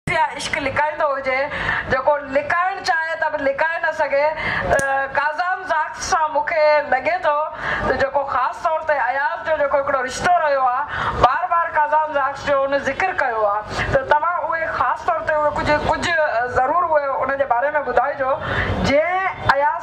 جتي اها عشق لڪائيندو هجي، جيڪو لڪائڻ چاهي ته به لڪائي نه سگهي، ڪازان زاڪس سان مون کي لڳي ٿو ته جيڪو خاص طور تي اياز جو جيڪو هڪڙو رشتو رهيو آهي، بار بار ڪازان زاڪس جو ان ذڪر ڪيو آهي ته توهان اهي خاص طور تي اهي ڪجهه ڪجهه ضرور اهي ان جي باري ۾ ٻڌائجو جنهن اياز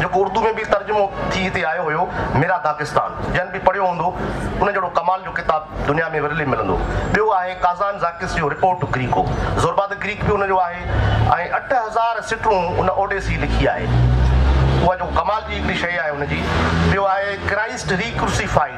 جيڪو اردو ۾ به ترجمو ٿي هتي آيو هيو ميرا داغستان جنھن به پڙهيو هوندو ان جهڙو ڪمال جو ڪتاب دنيا ۾ ورلي ملندو ٻيو آهي ڪازان زاڪس جو report to Greco Zorba the Greek به ان جو آهي ۽ اٺ هزار سٽرون ان اوڊيسي لکي آهي اها جيڪو ڪمال جي هڪڙي شيء آهي ان جي ٻيو آهي ڪرائسٽ ري ڪروسيفائيڊ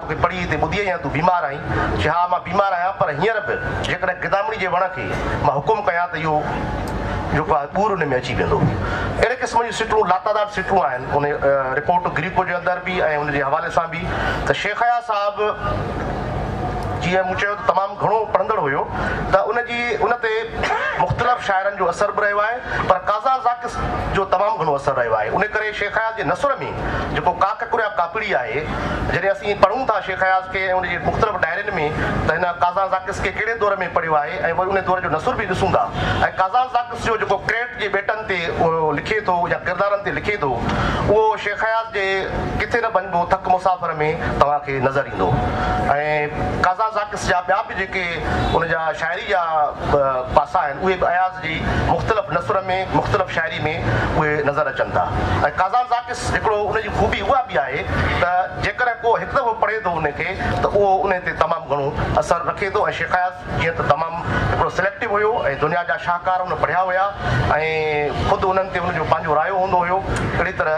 توکي پڙهي هتي ٻڌي آهي يا تون بيمار آهين؟ چي ها مان بيمار آهيان پر هينئر به جيڪڏهن گدامڙي جي وڻ کي مان حڪم ڪيان ته اهو جيڪو آهي ٻور ان ۾ اچي ويندو. اهڙي قسم جون سٽون لاتعداد سٽون آهن ان رپورٽ گريڪو جي اندر به ۽ ان جي حوالي سان به ته شيخ اياز صاحب جيئن مون چيو ته تمام گهڻو پڙهندڙ هيو ته ان جي ان تي مختلف شاعرن جو اثر به رهيو آهي پر قاضا زاڪس جو تمام گهڻو اثر رهيو آهي ان ڪري شيخ اياز جي نثر ۾ جيڪو ڪا ڪڪر يا ڪاڪڙي آهي. جڏهن اسين پڙهون ٿا شيخ اياز کي ۽ ان جي مختلف ڊائرين ۾ ته هن ڪازانزاڪس کي ڪهڙي دور ۾ پڙهيو آهي ۽ وري ان دور جو نثر به ڏسون ٿا ۽ ڪازانزاڪس جو جيڪو ڪريٽ جي ٻيٽن تي اهو لکي ٿو يا ڪردارن تي لکي ٿو اهو شيخ اياز جي ڪٿي نه ڀڃبو ٿڪ مسافر ۾ توهان کي نظر ايندو ۽ ڪازانزاڪس جا ٻيا به جيڪي ان جا شاعري جا به پاسا آهن اهي به اياز جي مختلف نثر ۾ مختلف شاعري ۾ اهي نظر اچن ٿا ۽ قازان زاڪس هڪڙو ان جي خوبي اها به آهي ته جيڪڏهن ڪو هڪ دفعو پڙهي ٿو ان کي ته اهو انهي تي تمام گهڻو اثر رکي ٿو ۽ شيخ اياز جيئن ته تمام هڪڙو سليڪٽو هيو ۽ دنيا جا شاهڪار ان پڙهيا هيا ۽ خود انهن تي ان جو پنهنجو رايو هوندو هيو اهڙي طرح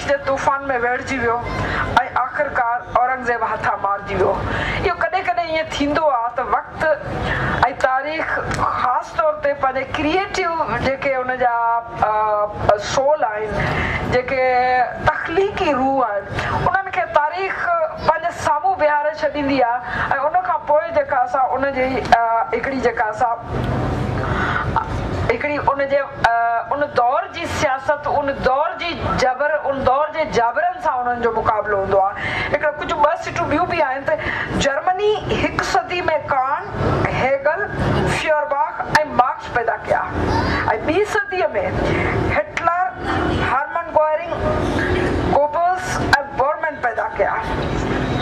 جي طوفان ۾ ويڙهجي ويو ۽ آخرڪار اورنگزيب هٿان مارجي ويو. اهو ڪڏهن ڪڏهن ائين ٿيندو آهي ته وقت ۽ تاريخ خاص طور تي پنهنجي ڪريئيٽو جيڪي ان جا سول آهن جيڪي تخليقي روح آهن انهن کي تاريخ پنهنجي سامهون بيهاري ڇڏيندي آهي ۽ ان کان پوء جيڪا اسان ان جي هڪڙي جيڪا اسان هڪڙي ان جي ان دور جي سياست، ان دور جي جبر، ان دور جي جابرن سان انهن جو مقابلو هوندو آهي. هڪڙو ڪجهه ٻه سٽون ٻيون به آهن ته جرمني هڪ صدي ۾ ڪانٽ، هيگل، فيورباخ ۽ مارڪس پيدا ڪيا ۽ ٻي صديء ۾ Hitler, Hermann Goering, Goebbels ۽ Bormann پيدا ڪيا.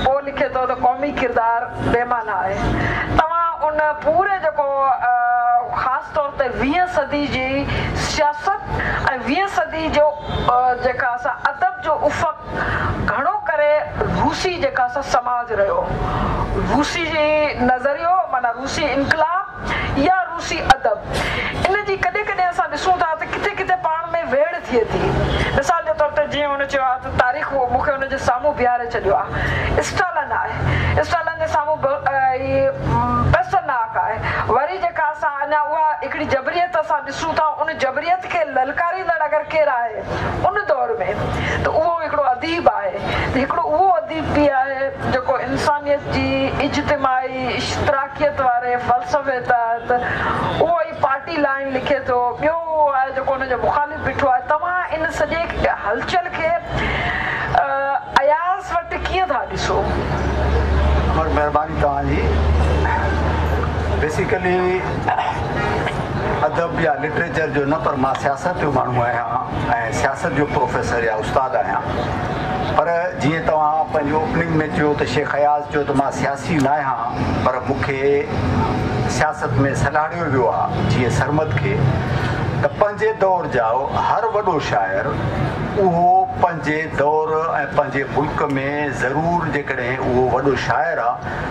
پو لکي ٿو ته قومي ڪردار، بي معنيٰ آهي. توهان ان پوري جيڪو خاص طور تي ويهه صدي جي سياست ۽ ويهه صدي جو جيڪا اسان ادب جو افق گهڻو ڪري روسي جيڪا اسان سماج رهيو روسي جي نظريو معنيٰ روسي انقلاب يا روسي ادب. ان جي ڪڏهن ڪڏهن اسان ڏسون ٿا ته ڪٿي ڪٿي پاڻ ۾ ويڙهه ٿئي ٿي. مثال جي طور تي جيئن هن چيو آهي ته تاريخ مون کي ان جي سامهون بيهاري ڇڏيو آهي. اسٽالن آهي. اسٽالن جي سامهون به هي پيسٽرناڪ آهي. وري جيڪا اسان اڃا اها هڪڙي جبريت اسان ڏسون ٿا ان جبريت کي للڪاريندڙ اگر ڪير آهي. ان دور ۾ ته اهو هڪڙو اديب آهي ته هڪڙو اهو اديب به آهي جيڪو انسانيت جي اجتماعي اشتراڪيت واري فلسفي تحت اهو ئي پارٽي لائين لکي ٿو ٻيو اهو آهي جيڪو ان جو مخالف بيٺو آهي توهان ان سڄي هلچل کي اياز وٽ ڪيئن ٿا ڏسو؟ عمر مهرباني توهان جي بيسيڪلي ادب يا لٽريچر جو نه پر مان سياست جو ماڻهو آهيان ۽ سياست جو پروفيسر يا استاد آهيان پر جيئن توهان پنهنجي اوپننگ ۾ چيو ته شيخ اياز چيو ته مان سياسي نه آهيان پر مون کي سياست ۾ سلهاڙيو ويو آهي جيئن سرمد کي ته پنهنجي دور جا هر وڏو شاعر اهو پنهنجي دور ۽ پنهنجي ملڪ ۾ ضرور جيڪڏهن اهو وڏو شاعر آهي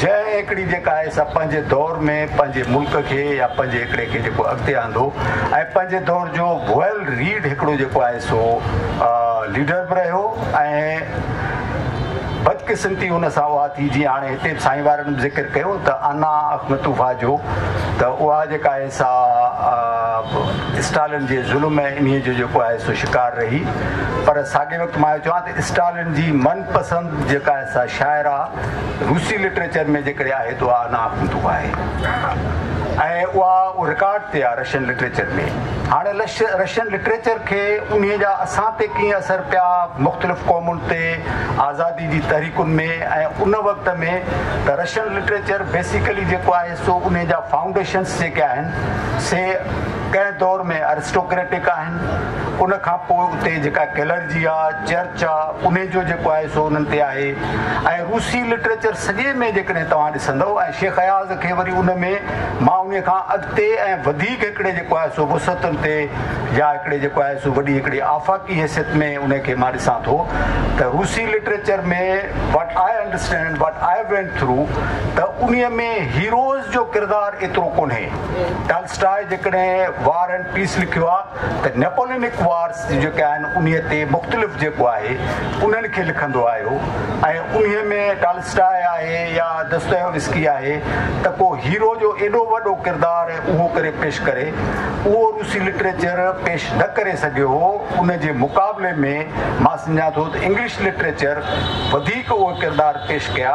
جنهن هيڪڙي جيڪا آهي سا پنهنجي دور ۾ پنهنجي ملڪ کي يا پنهنجي هيڪڙي کي جيڪو اڳتي آندو ۽ پنهنجي دور جو ويل ريڊ هيڪڙو جيڪو آهي سو ليڊر به رهيو ۽ بدقسمتي ان سان اها ٿي جيئن هاڻي هتي به سائين وارن به ذڪر ڪيو ته انا اخنتوفا جو ته اها جيڪا آهي سا اسٽالن جي ظلم ۽ انهي جو جيڪو آهي سو شڪار رهي پر ساڳي وقت مان اهو چوان ته اسٽالن جي من پسند جيڪا آهي سا شاعر آ روسي لٽريچر ۾ جيڪڏهن آهي ته اها انا ڪنتو آهي ۽ اها رڪارڊ تي آ رشين لٽريچر ۾ هاڻي رشين لٽريچر کي انهي جا اسان تي ڪيئن اثر پيا مختلف قومن تي آزادي جي تحريڪن ۾ ۽ ان وقت ۾ ته رشين لٽريچر بيسيڪلي جيڪو آهي سو انهي جا فائونڊيشنس جيڪي آهن سي ڪنهن دور ۾ ارسٽوڪريٽڪ آهن ان کان پوء اتي جيڪا ڪلرجي آ چرچ چاء انهي جو جيڪو آهي سو انهن تي آهي ۽ روسي لٽريچر سڄي ۾ جيڪڏهن توهان ڏسندؤ ۽ شيخ اياز کي وري ان ۾ مان انهي کان اڳتي ۽ وڌيڪ هڪڙي جيڪو آهي سو وسعتن تي يا هڪڙي جيڪو آهي سو وڏي هڪڙي آفاقي حيثيت ۾ انهي کي مان ڏسان ٿو ته روسي literature ۾ What I understand and what I went through ته انهي ۾ هيروز جو ڪردار ايترو ڪونهي ٽالسٽاء جيڪڏهن War and Peace لکيو آهي ته نيپولينڪ وارز جيڪي آهن انهي تي مختلف جيڪو آهي انهن کي لکندو آيو ۽ انهي ۾ ٽالسٽاء آهي يا دستويوسڪي آهي ته ڪو هيرو جو ايڏو وڏو ڪردار اهو ڪري پيش ڪري اهو روسي لٽريچر پيش نه ڪري سگهيو هو ان جي مقابلي ۾ مان سمجهان ٿو ته انگلش لٽريچر وڌيڪ اهي ڪردار پيش ڪيا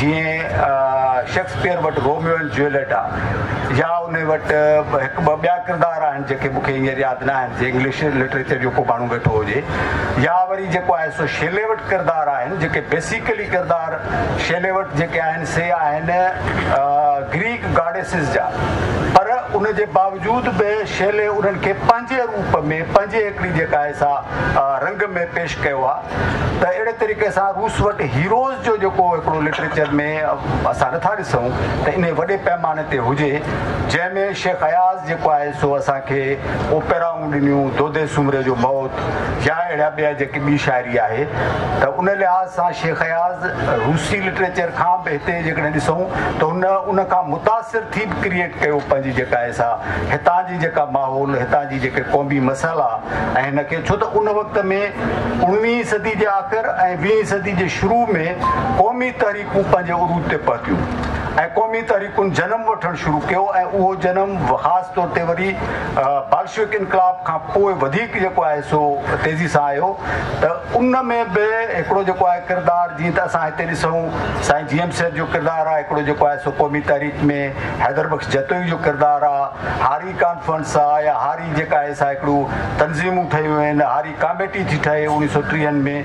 جيئن شيڪسپيئر وٽ روميو اينڊ جوليٽ آ يا ان وٽ هڪ ٻه ٻيا ڪردار آهن جيڪي مون کي هينئر ياد نه آهن جي انگلش لٽريچر جو ڪو ماڻهو ويٺو هجي يا وري جيڪو آهي سو شيلي وٽ ڪردار آهن جيڪي بيسيڪلي ڪردار شيلي وٽ جيڪي آهن سي آهن گريڪ گاڊيسز جا پر ان جي باوجود به شيلي انهن کي پنهنجي روپ ۾ پنهنجي هڪڙي جيڪا آهي سا رنگ ۾ پيش ڪيو آ ته اهڙي طريقي سان روس وٽ هيروز جو جيڪو هڪڙو لٽريچر ۾ اسان نٿا ڏسون ته انهي وڏي پئماني تي هجي جنهن ۾ شيخ اياز جيڪو آهي سو اسان کي اوپيرائون ڏنيون دودي سومري جو موت يا اهڙا ٻيا جيڪي ٻي شاعري آهي ته ان لحاظ سان شيخ اياز روسي لٽريچر کان به هتي جيڪڏهن ڏسون ته هن ان کان متاثر ٿي به ڪريئيٽ ڪيو پنهنجي جيڪا آهي سا هتان جي جيڪا ماحول، هتان جي جيڪي قومي مسئلا ۽ هن کي ڇو ته ان وقت ۾ اوڻويهين صدي جي آخر ۽ ويهين صدي جي شروع ۾ قومي تحريڪون پنهنجي عروج تي پهتيون ۽ قومي تحريڪن جنم وٺڻ شروع ڪيو ۽ اهو جنم خاص طور تي وري بالشويڪ انقلاب کان پوء وڌيڪ جيڪو آهي سو تيزي سان آيو ته ان ۾ به هڪڙو جيڪو آهي ڪردار جيئن ته اسان هتي ڏسون سائين جي ايم سيد جو ڪردار آهي هڪڙو جيڪو آهي سو قومي تحريڪ ۾ حيدر بخش جتوئي جو ڪردار آهي هاري ڪانفرنس آ يا هاري جيڪا آهي سا هڪڙو تنظيمون ٺهيون آهن هاري ڪاميٽي ٿي ٺهي اوڻيهه سؤ ٽيهن ۾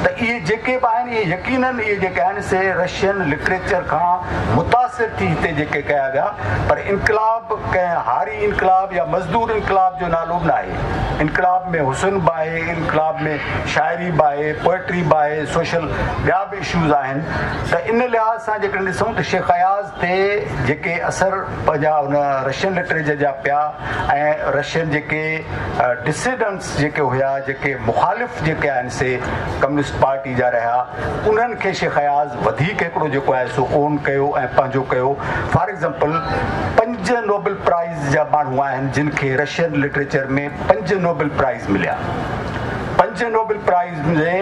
ته اهي جيڪي به آهن اهي يقينن اهي جيڪي آهن سي رشين لٽريچر کان متاثر ٿي هتي جيڪي ڪيا ويا پر انقلاب ڪنهن هاري انقلاب يا مزدور انقلاب جو نالو به ناهي انقلاب ۾ حسن به آهي انقلاب ۾ شاعري به آهي پوئٽري به آهي سوشل ٻيا به اشوز آهن ته ان لحاظ سان جيڪڏهن ڏسون ته شيخ اياز تي جيڪي اثر پنهنجا ان رشين لٽريچر جا پيا ۽ رشين جيڪي ڊسيڊنٽس جيڪي هيا جيڪي مخالف جيڪي آهن سي ڪميونسٽ پارٽي جا رهيا انهن کي شيخ اياز وڌيڪ هڪڙو جيڪو آهي سو اون ڪيو ۽ پنهنجو ڪيو فار ايگزامپل پنج نوبل پرائز جا ماڻهو آهن جن کي رشين لٽريچر ۾ پنج نوبل پرائز مليا پنج نوبل پرائز ۾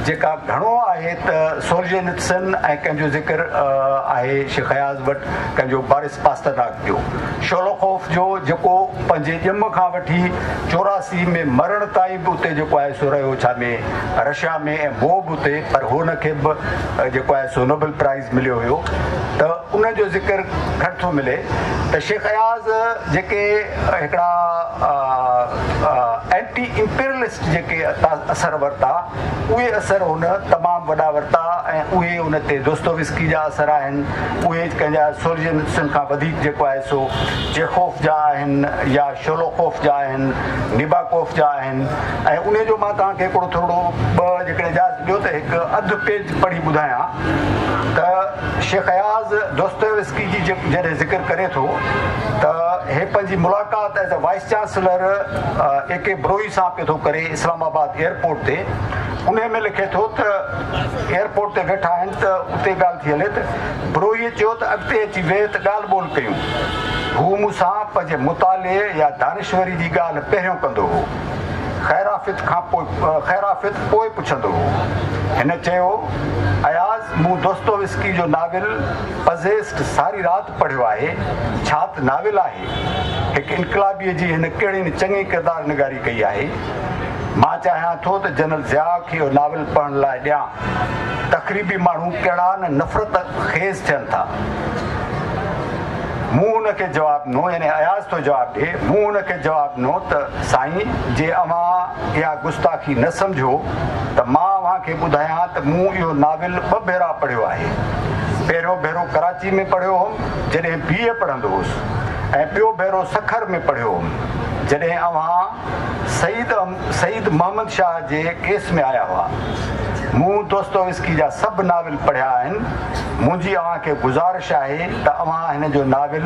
جيڪا گهڻو آهي ته سورجينتسن ۽ ڪنهن جو ذڪر آهي شيخ اياز وٽ ڪنهن جو بارس پاسترناڪ جو شولوخوف جو جيڪو پنهنجي ڄم کان وٺي چوراسي ۾ مرڻ تائين به اتي جيڪو آهي سو رهيو ڇا ۾ رشيا ۾ ۽ هو به اتي پر هن کي به جيڪو آهي سو نوبل پرائز مليو هيو ته ان جو ذڪر گهٽ ٿو ملي ته شيخ اياز جيڪي هڪڙا اينٽي امپيرلسٽ جيڪي اثر ورتا اهي اثر هن تمام وڏا ورتا ۽ اهي ان تي دوستويسڪي جا اثر آهن اهي ڪنهن جا سورجنسن کان وڌيڪ جيڪو آهي سو چيخوف جا آهن يا شولوخوف جا آهن نيباڪوف جا آهن ۽ ان جو مان توهان کي هڪڙو ٿورڙو ٻه جيڪڏهن اجازت ڏيو ته هڪ اڌ پيج پڙهي ٻڌايان ته شيخ اياز دوستويوسڪي جي جڏهن ذڪر ڪري ٿو ته هي پنهنجي ملاقات as a vice chancellor A K Brohi سان پيو ٿو ڪري اسلام آباد ايئرپورٽ تي انهي ۾ لکي ٿو ته ايئرپورٽ تي ويٺا آهن ته اتي ڳالهه ٿي هلي ته بروهي چيو ته اڳتي اچي ويهه ته ڳالهه ٻولهه ڪيون هو مون سان پنهنجي مطالعي يا دانشوري جي ڳالهه پهريون ڪندو هو خيرافيت کان پوء خيرافيت پوء پڇندو هو هن چيو اياز مون دوستويسڪي جو ناول پزيسٽ ساري رات پڙهيو آهي. ڇا ته ناول آهي. هڪ انقلابيء جي هن ڪهڙي نه چڱي ڪردار نگاري ڪئي آهي. مان چاهيان ٿو ته جنرل ضياء کي اهو ناول پڙهڻ لاء ڏيان. تخريبي ماڻهو ڪهڙا نه نفرت خيز ٿين ٿا. مون هن کي جواب ڏنو يعني اياز ٿو جواب ڏئي مون هن کي جواب ڏنو ته سائين جي اوهان اها گستاخي نه سمجهو ته مان اوهان کي ٻڌايان ته مون اهو ناول ٻه ڀيرا پڙهيو آهي. پهريون ڀيرو ڪراچي ۾ پڙهيو هوم جڏهن بي اي پڙهندو هوس ۽ ٻيو ڀيرو سکر ۾ پڙهيو هوم جڏهن اوهان سيد سيد محمد شاهه جي ڪيس ۾ آيا هئا. مون دوستويسڪي جا سڀ ناول پڙهيا آهن. منهنجي اوهان کي گذارش آهي ته اوهان هن جو ناول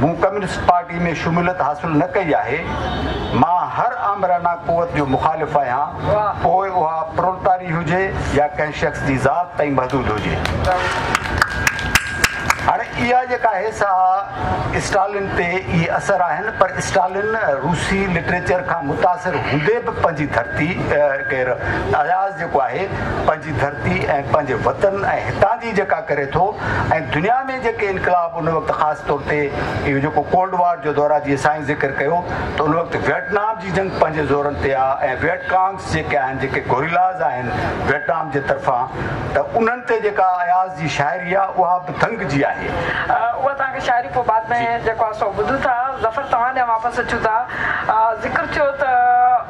مون ڪميونسٽ پارٽي ۾ شموليت حاصل نه ڪئي آهي. مان هر آمرانه قوت جو مخالف آهيان، پوء اها پرولتاري هجي يا ڪنهن شخص جي ذات تائين محدود هجي. هاڻي اها جيڪا آهي سا اسٽالن تي ئي اثر آهن، پر اسٽالن روسي لٽريچر کان متاثر هوندي به پنهنجي ڌرتي، ڪير اياز جيڪو آهي، پنهنجي ڌرتي ۽ پنهنجي وطن ۽ هتان جي جيڪا ڪري ٿو ۽ دنيا ۾ جيڪي انقلاب ان وقت خاص طور تي اهو جيڪو ڪولڊ وار جو دورا جيئن سائين ذڪر ڪيو ته ان وقت ويٽنام جي جنگ پنهنجي زورن تي آ ۽ ويٽ ڪانگس جيڪي آهن جيڪي گوريلاز آهن ويٽنام جي طرفان ته انهن تي جيڪا اياز جي شاعري آ اها به دنگ جي آهي. اها توهان کي شاعري پوء بعد ۾ جيڪو آ سو ٻڌون ٿا. ظفر توهان ڏانهن واپس اچون ٿا ذڪر ٿيو ته.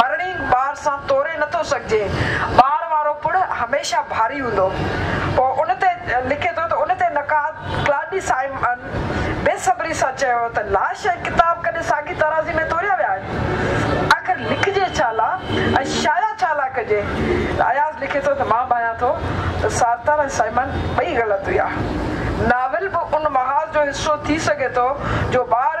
مرڻي ٻار سان توري نٿو سگهجي. ٻار وارو پڙ هميشه ڀاري هوندو. پوء ان تي لکي ٿو ته ان تي نقاد ڪلاڊي سائمن بي صبري سان چيو ته لاش ۽ ڪتاب ڪڏهن ساڳي ترازي ۾ توريا ويا آهن؟ آخر لکجي ڇا لا ۽ شايع ڇا لا ڪجي؟ اياز لکي ٿو ته مان ڀانيان ٿو ته سارتر ۽ سائمن ٻئي غلط هيا. ناول به ان محاذ جو حصو ٿي سگهي ٿو جو ٻار،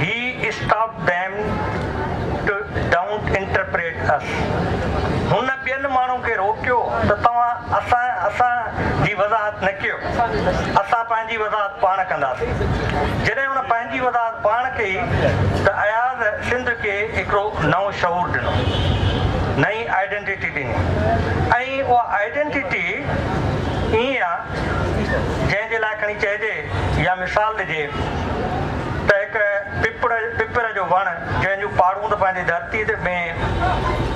هي stop them to don't interpret us هن ٻين ماڻهن کي روڪيو ته توهان اسان اسان جي وضاحت نه ڪيو اسان پنهنجي وضاحت پاڻ ڪنداسين جڏهن هن پنهنجي وضاحت پاڻ ڪئي ته اياز سنڌ کي هڪڙو نئون شعور ڏنو نئين آئيڊينٽيٽي ڏني ۽ اها آئيڊينٽيٽي ايئن آ جنهن جي لاء کڻي چئجي يا مثال ڏجي ته هڪ پپڙ، پپر، جو وڻ جنهن جون پاڙون ته پنهنجي ڌرتيء تي ۾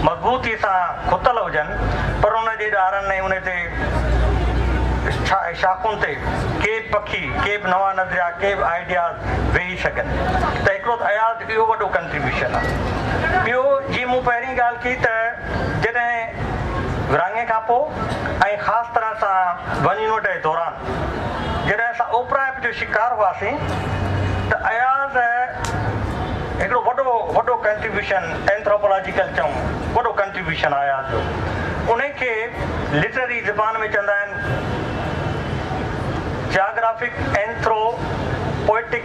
مضبوطيء سان کتل هجن پر ان جي ڏارن ۽ ان تي شاخن تي ڪي به پکي، ڪي به نوان نظريا، ڪي به آئيڊياز ويهي سگهن ته هڪڙو ته اياز جو اهو وڏو ڪنٽريبيوشن آ. ٻيو جيئن مون پهرين ڳالهه ڪئي ته جڏهن ورهاڱي کانپوء ۽ خاص طرح سان ون يونٽ جي دوران، جڏهن اسان اوپرائپ جو شڪار هئاسين ته اياز هڪڙو وڏو وڏو ڪنٽريبيوشن اينٿروپولاجيڪل چئون وڏو ڪنٽريبيوشن آهي اياز جو انهي کي لٽرري زبان ۾ چوندا آهن جاگرافڪ اينٿرو پوئٽڪ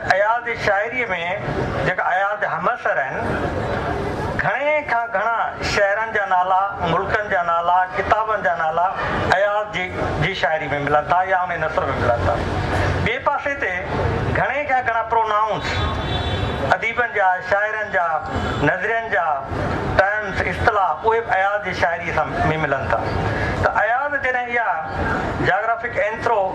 اياز جي شاعريء ۾ جيڪا اياز جا همعصر آهن، گهڻي کان گهڻا شهرن جا نالا، ملڪن جا نالا، ڪتابن جا نالا اياز جي جي شاعريء ۾ ملن ٿا يا انهيء نثر ۾ ملن ٿا. ٻئي پاسي تي گهڻي کان گهڻا پرونائونس، اديبن جا، شاعرن جا، نظرين جا، ٽرمس، اصطلاح، اهي به اياز جي شاعريء سان ۾ ملن ٿا. ته اياز جڏهن اها جاگرافڪ اينٿرو.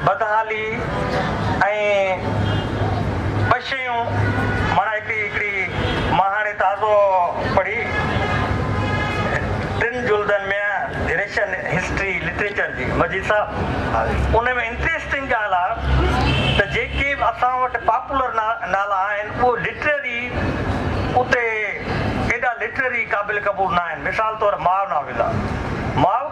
بدحالي ۽ ٻه شيون معنيٰ هڪڙي هڪڙي مان هاڻي تازو پڙهي ٽن جلدن ۾ ريشن هسٽري لٽريچر جي مجيد صاحب ان ۾ انٽريسٽنگ ڳالهه آ ته جيڪي به اسان وٽ پاپولر نالا آهن اهي لٽرري اتي ايڏا لٽرري قابل قبول ناهن مثال طور ماء ناول آ ماء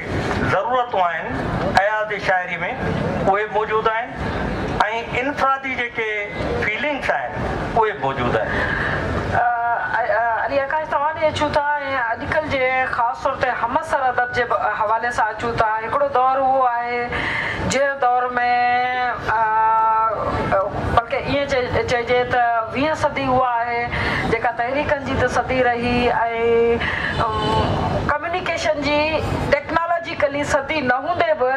ضرورتون آهن اياز شاعري ۾ اهي موجود آهن ۽ انفرادي جيڪي فيلنگس آهن اهي به موجود آهن. علي آڪاش توهان ڏي اچون ٿا ۽ اڄڪلهه جي خاص طور تي همعصر ادب جي حوالي سان اچون ٿا هڪڙو دور اهو آهي جنهن دور ۾ بلڪه ائين چئجي ته ويهه صدي اها آهي جيڪا تحريڪن جي ته صدي رهي ۽ ڪميونيڪيشن جي ٽيڪنالاجيڪلي سڌي نه هوندي به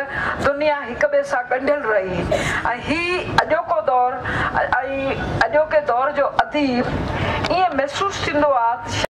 دنيا هڪ ٻئي سان ڳنڍيل رهي ۽ هي اڄوڪو دور ۽ اڄوڪي دور جو اديب ائين محسوس ٿيندو آ ته